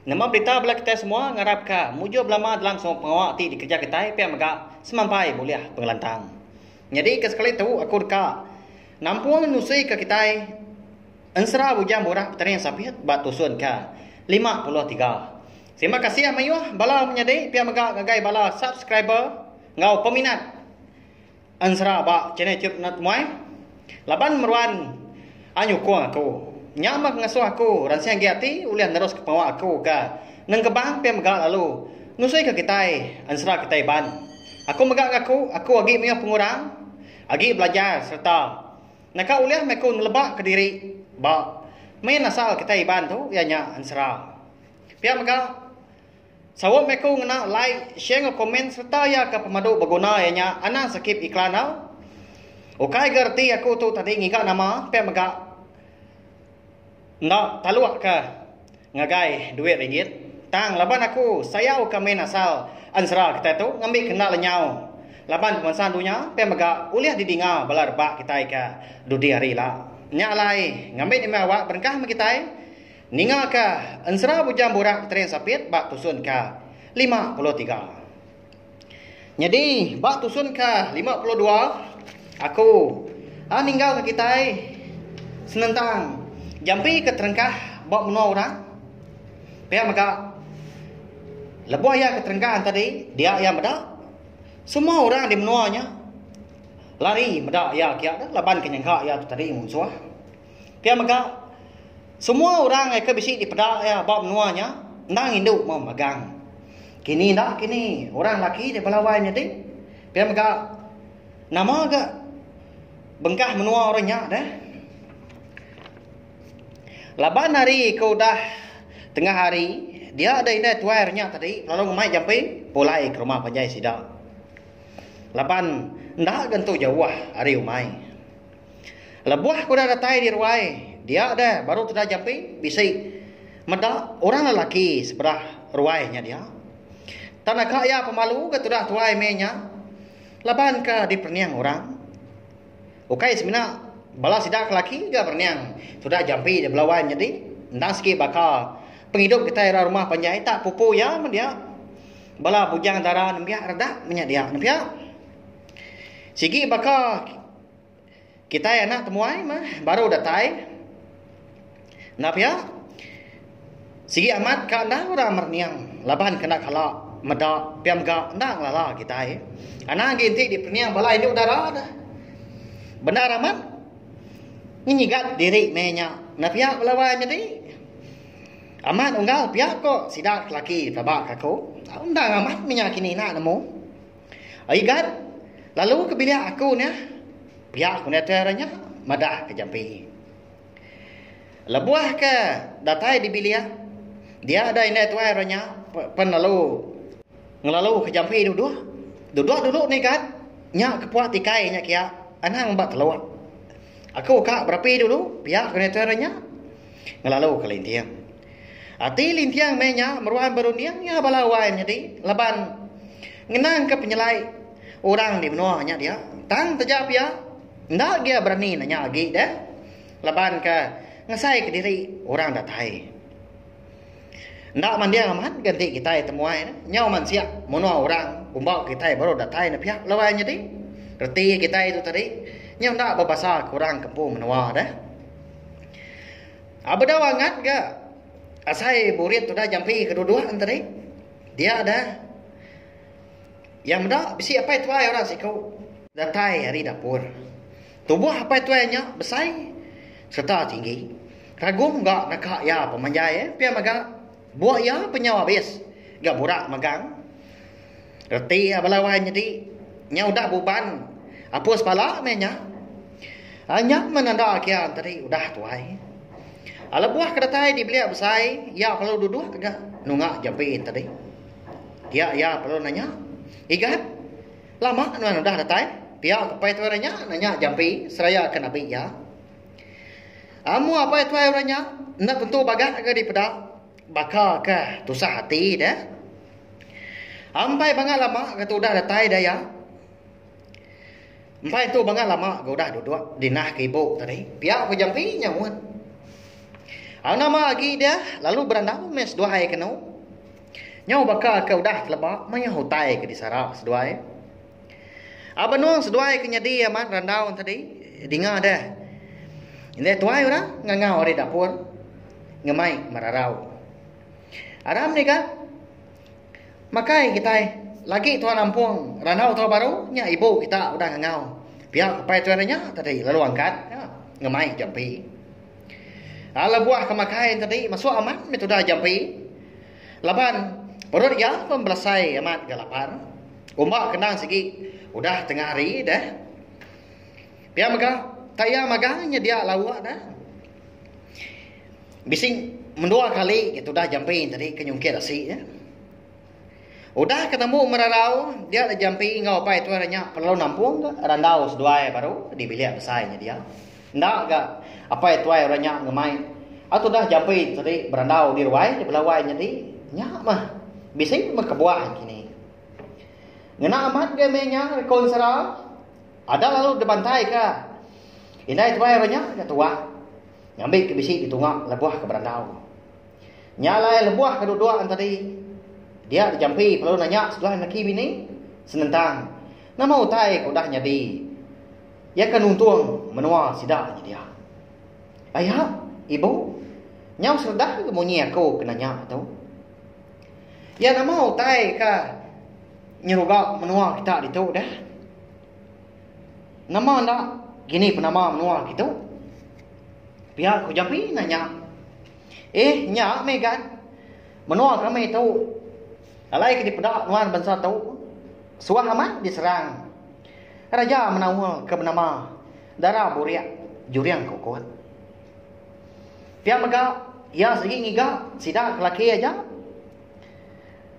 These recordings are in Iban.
Nama berita bala kitai semua ngarap ka mujur belama dalam semua pengawa ti dikereja kitai pia mega semampai bulih pengelantang. Nyadi ke sekali tu aku deka nampung nusi ka kitai ensera bujang murah petani ensapit ba tusun ka lima puluh tiga. Terima kasih mayuh bala menyadi pia mega ngagai bala subscriber enggau peminat. Ensera ba channel tu kena temuai laban meruan a nyukung aku. Nya meh ngesuh aku ransing agi ati ulih neruska pengawa aku ga nengkebang pia mega lalu nusuika kitai ensera kitai Iban. Aku mega ngaku aku agi mayuh pengurang agi belajar sereta naka ulih meh aku neleba ke diri ba main asal kitai Iban tu iya nya ensera. Pia mega Sawa meh ku ngena like, share enggau komen sereta iya ke pemadu beguna iya nya anang skip iklan tau. Ukai ga reti aku tu tadi ngiga nama pia mega enda taluk ka ngagai duit ringgit tang laban aku sayau ka main asal ensera kitai tu ngambi ke enda lenyau laban pemansang dunya pia mega ulih di dinga bala rebak kitai ka dudi hari ila. Nya alai ngambi ni meh awak berengkah meh kitai. Ninga ka ensera bujang burak Keterin Sapit ba tusun ka lima puluh tiga. Nyadi ba tusun ka lima puluh dua, aku a ninggal ka kitai senentang jampi ke terengkah ba menua orang. Pia mega lebuh iya ke terengkah enta di dia iya meda, semua orang di menua nya lari meda iya kiya laban ke nyengka iya tu tadi munsuh. Pia mega, semua orang ngai ke bisi dipeda iya ba menua nya endang indu mauh magang. Kini enda kini, orang lelaki ti belawai nyadi. Pia mega, nama ga bengkah menua orang nya deh. Laban hari ke udah tengah hari, dia deh indai tuai orang nya tadi lalu ngemai jampi pulai ke rumah panjai sida. Laban enda ga entu jauh hari umai. Lebuh kuda datai di ruai dia deh baru tuda Japi bisi meda orang lelaki seberah ruai nya dia. Tan aka iya pemalu ga tuda tuai meh nya laban ka diperening orang. Ukai semina bala sida ke laki ga berening tuda Japi di Belawan nyadi endang sigi baka pengidup kitai ra rumah panjai tak pupu iya meh dia. Bala bujang dara nembiak redak meh nya dia nepia. Sigi baka. Kitai anak temuai mah baru datai. Enda pia, sigi amat ka endang orang merening laban ke enda kala meda pia mega enda ngelala kitai. Anang agi enti diperening bala indu dara deh. Bendar amat ngenyigat diri meh nya. Enda pia bala wai nyadi. Amat unggal pia ko sida ke laki pelaba ke aku. Tau endang amat meh nya kini ina nemu. Ai gat, lalu ke bilik aku nya. Pia ku Neter nya madah ke jampi. Lebuh ke datai di bilik, dia dai indai tuai orang nya pen lalu ngelalu ke jampi duduk. Duduk dulu ni gat, nya ke puak tikai nya kia anang ba telok. Aku ka berapi dulu, pia ku Neter nya ngelalu ke linting. Ati Lintiang meh nya meruan berunding iya bala wai menyadi laban ngenangka penyelai orang di menua nya dia. Tang taja pia enda gia berani nanya agi deh laban ke ngasaika diri orang datai. Enda manding amat ga enti kitai temuai ne, nyau mansik menua orang umbau kitai baru datai ne pia bala wai nyadi. Reti kitai tu tadi nyau enda bebasa ke orang kampung menua deh. A bedau angat ga asai burit udah jampi ke duduk en tadi dia dah iya meda bisi apai tuai orang siku datai ari dapur tubuh apai tuai nya besai serta tinggi Ragum ga naka iya pemanjai pia mega buk iya penyau abis ga burak megang. Reti iya bala wai nyadi nya udah buban apus bala meh nya. Anyap menanda kia tadi udah tuai. Lebuh ke datai dibelik besai iya perlu duduk ga nunga jampi tadi. Dia iya perlu nanya, Igat, lama nuan udah datai? Pia ke pai tuai orang nya nanya jampi seraya ke nabi iya. Amu apai tuai orang nya enda tentu bagat ga dipeda. Baka ka tusah ati da. Ampai banga lama ga tudah datai da iya. Empai tu banga lama ga udah duduk di nah ke ibu tadi. Pia ku Jampi nyaut. Au nama agi dia lalu berandau meh seduai kenu. Nyau baka ka udah teleba mayuh utai ke disara seduai. A benung seduai ke nyadi amat randau enti tadi dinga deh. Indai tuai orang ngangau ari dapur ngemai merarau. Aram nika makai kitai lagi tuan ampung randau tau baru nya ibu kita udah ngangau pia ke pai tuai renya tadi lalu angkat ngemai jampi. A lebuh ke makai enti tadi mesu amat meh tudah jampi Laban, perut iya pun belasai amat ga lapar. Umba kenang sigi, udah tengah hari deh. Pia mega, tak iya magang nyedia lauk deh. Bisi mendua kali ke tudah jampi tadi ke nyungkit asi. Udah ke tembu merarau, dia jampi enggau Apai Tuai renya pelalu nampung randau seduai baru di bilik besai nyedia. Enda ga, apai tuai orang nya ngemai au tudah jampi tadi berandau di ruai di bela wai nyadi nya mah bisi meh kebuah kini. Ngena amat ga meh nya reko ensera ada lalu dibantai ka indai tuai orang nya ga tuah ngambi ke bisi ditunga lebuh ke berandau. Nya alai lebuh ke duduk an tadi dia dijampi lalu nanya seduai laki bini senentang nama utai ke udah nyadi Iya ke nuntung menua sida nyedia. Aya, ibu, nyau seredah ke munyi aku ke nanya tu. Iya nama utai ke nyeruga menua kita ditu deh? Nama enda kini penama menua kitu? Pia ku Japi nanya. Eh, nya meh gan. Menua kami tu. Alai ke dipeda nuan bansa tu suah amat diserang raja menaul ke benama Dara Burik Juring Kukut. Pia mega iya sigi ngiga sida ke laki aja.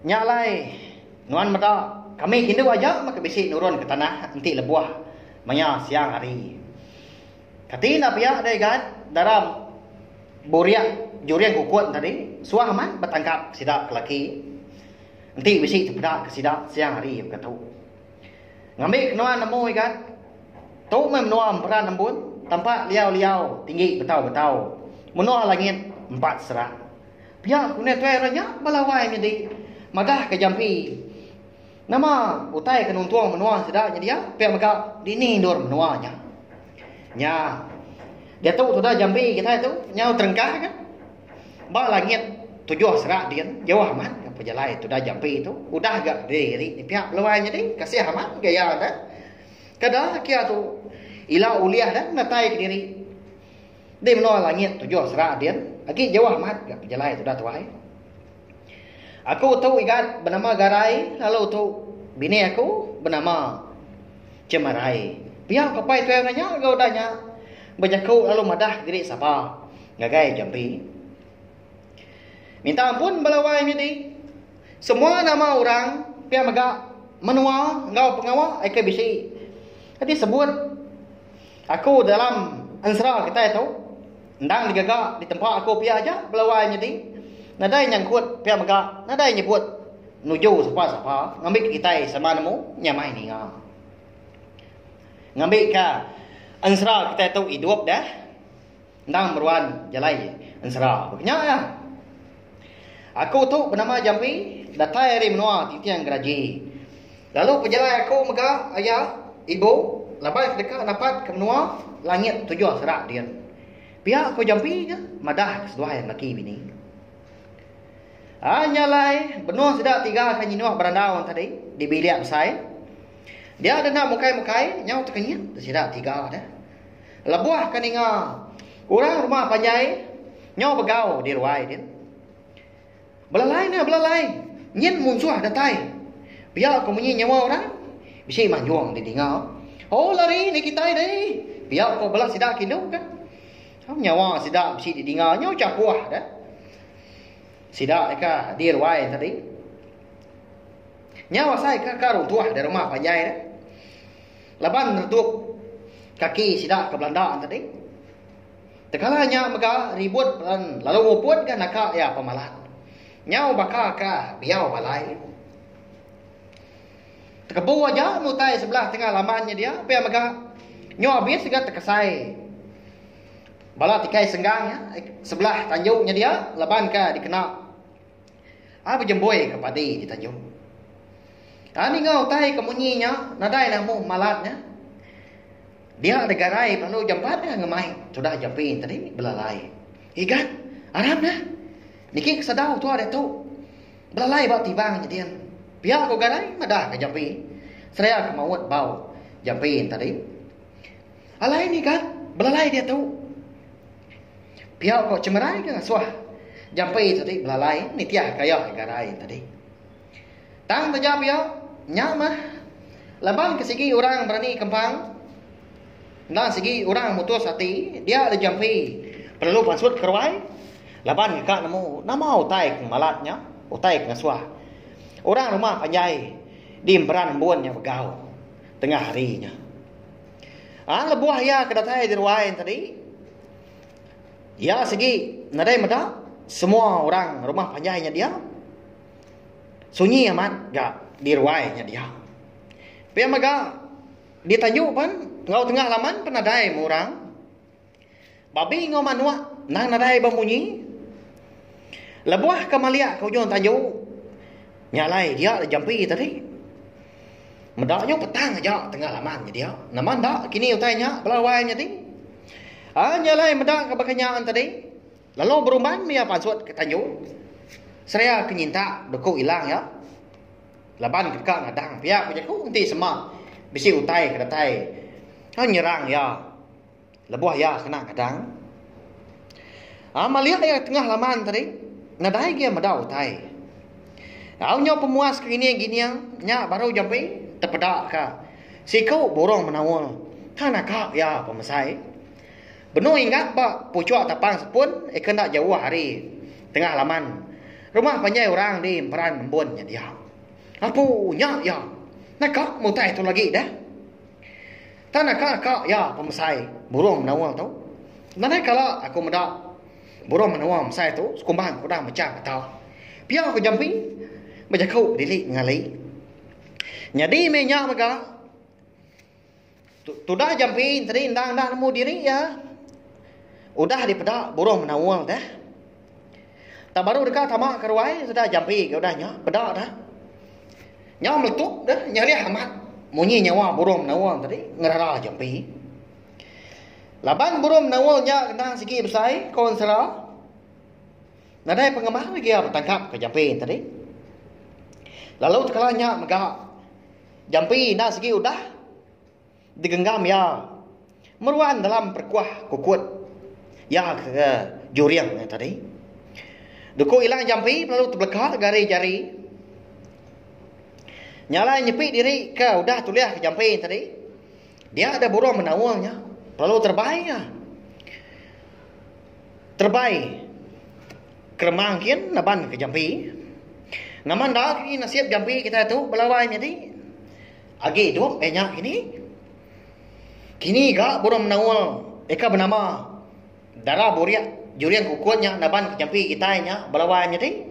Nya alai nuan meda kami ke indu aja mega bisi nurunka tanah enti lebuh maya siang hari. Kati enda pia deh Igan, dalam buriak juring ukun tadi, suah amat betangkap sida ke laki. Enti bisi tepeda ke sida siang hari mega tu. Ngambi ke nuan nemu Igan, tu meh menua emperan embun, tampak liau-liau tinggi betau-betau, menua langit empat serak. Pia ku netue orang nya bala awai nyadi madah ke jampi. Nama utai ke nuntung menua sida nyedia pia mega dini endur menua nya. Nya diatu tuda Jambi kitai tu nyau terengkah ke ba langit tujuh serak din jauh amat ke pejalai tuda Jambi tu udah ga diri ni pia peluai nyadi kasih amat gaya ne. Kada kia tu ila ulih dah menatai diri di menua langit tujuh serak din agi jauh amat ga pejalai tuda tuai. Aku tu igat benama Garai lalu tu bini aku benama Chemarai. Pia ku Apai Tuiang Nanya enggau udah nya bejaku lalu madah ke diri sapa ngagai jampi. Minta ampun bala wai nyadi. Semua nama orang pia mega menua enggau pengawa aka bisi. Enti sebut. Aku dalam ensera kitai tu endang digaga ditempa aku pia aja belawai nyadi nadai nyangkut pia mega nadai nyebut nuju sapa-sapa ngambika kitai sama nemu nya mai ninga ngambika ensera kitai tu idup deh. Endang meruan jalai ensera ba nya iya. Aku tu benama Jampi, datai ari menua Tinting Geraji. Lalu pejalai aku mega aya, ibu, laban ke deka napat ke menua langit tujuh sera din. Pia ko Jampi nya madah ke seduai lelaki bini. Ah nya alai benung sida tiga ke nyinuh berandau enti tadi di bilik besai. Dia denda mukai-mukai nyau tekenyit sida tiga deh. Lebuh ke ninga orang rumah panjai nyau begau di ruai din. Belalai ne belalai nyin munsuh datai. Pia ko munyi nyawa orang bisi manjung di dinga. Oh lari ni kitai deh. Pia ko bala sida kindu ka. Au nyawa sida bisi di dinga nyau chapuh dah. Sida ka di ruai tadi. Nyau asai ka ka runtuh di rumah panjai dah. Laban neretup kaki sida ke belanda tadi. Tekala nya mega ribut pelan lalu nguput ga naka iya pemalat. Nyau baka ka biau alai. Tekebu aja mutai sebelah tengah laman nya dia pia mega nyu abis ga tekesai bala tikai senggang nya sebelah tanjung nya dia laban ka dikena Ai bejemboi ke padi di tanjung. Ai ninga utai ke munyi nya nadai nang muh malat nya. Dia deka rai pengalu jampat nya ngemai tudah Japin tadi belalai. Igat, aram nah. Niki ke sedau tua diatu. Belalai ba tibang nya din. Pia ku Garai madahka Japin seraya ke maut bau Japin tadi. Alai ni ka belalai diatu. Pia ko Chengerai ke suah jampi tu ti belalai nitih ka iya ngarai tadi. Tang taja pia nya mah laban ke sigi orang berani kempang endang sigi orang mutus ati dia agi jampi perlu pansut ke ruai laban ke ka nemu nama utai ke malat nya utai ke suah orang rumah panjai di emperan embun nya begau tengah hari nya. Aa lebuh iya ke datai di ruai nya tadi iya sigi nadai meda semua orang rumah panjai nya dia sunyi amat ga di ruai nya dia. Pia mega di tanju pen enggau tengah laman pun nadai meh orang. Babi enggau manuk endang nadai bemunyi. Lebuh ke maliak ke ujung tanju, nya alai dia agi jampi tadi. Meda nyu petang aja tenga laman ke dia. Nama enda kini utai nya bala wai nyadi. Aa nya alai meda ke baka nya tadi lalu berumban maya pansut ke tanju. Seria ke nyintak beku ilang iya. Laban ke deka ngadang pia ku jaku enti sema bisi utai ke datai nyerang iya. Lebuh iya kena ngadang, Amalia iya tengah laman tadi nadai agi iya meda utai. Au nyau pemuas ke ngining gining nya baru jampi tepeda ka siku burung menaul ka naka iya pemesai. Benung ingat ba puchuk tapang sepun eka enda jauh ari tengah laman rumah panjai orang di emperan embun nya dia. Apu nya iya! Naka mutai tu lagi dah. Tan aka ka iya pemesai burung menoa tu. Nadai kala aku meda burung menoa mesai tu sekumbang ke udah mechang mata. Pia ke jampi bejaku dili ngali. Nyadi meh nya mega tudah jampi tadi enda nemu diri iya udah dipeda burung menoa deh. Tang baru deka tama ke ruai sedah jampi ke udah nya, peda dah. Nya meletup dah, nyarih amat munyi nyawa burung menaul tadi ngerara jampi. Laban burung menaul nya kena sigi besai ko ensera, nadai pengemar lagi iya betangkap ke jampi tadi. Lalu tekala nya mega jampi enda sigi udah. Digenggam iya meruan dalam perkuah kukut iya ke juring nya tadi. Duku Ilang Jampi lalu tebeleka gari-jari. Nya alai nyepi diri ke udah tulih ke jampi nya tadi. Dia ada burung menaung nya lalu terbai iya. Terbai keremang kin naban ke jampi. Nama enda lagi nasib jampi kitai tu belawan nyadi. Agi tu eh nya kini. Kini ga burung menaul eka benama Dara Buriak Juring Kukut nya naban ke jampi kitai nya belawan nyadi.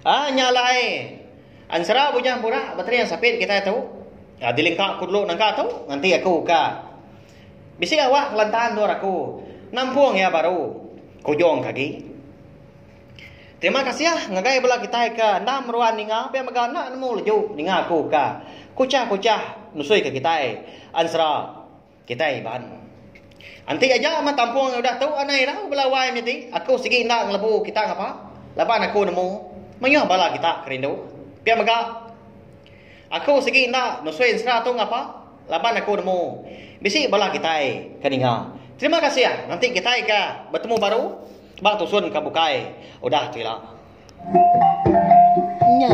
Ah nya alai Ensera Bujang Burak Bateri Sapit kitai tu ah dilingka ku dulu nangka tu nganti aku ka bisi awak ngelanta endur aku nampung iya baru. Kujung ke agi. Terima kasih ngagai bala kitai ke enda meruan ninga pia mega enda nemu leju ninga aku ka kuchah-kuchah nusui ke kitai Ansra kitai Iban. Enti aja mah tampung udah tu anai irau bala wai menyadi aku sigi enda ngelebu kita ngapa laban aku nemu mayuh bala kita ke rindu. Pia mega aku sigi enda nusui Ansra tu ngapa laban aku nemu bisi bala kitai ke ninga. Terima kasih nganti kitai ka betemu baru. Tebang tusun ka bukai udah tu ila. Nya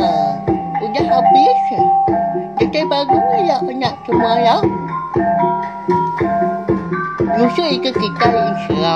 udah habis kitai baru ila kena semua ila. Nusa ika kitai insha.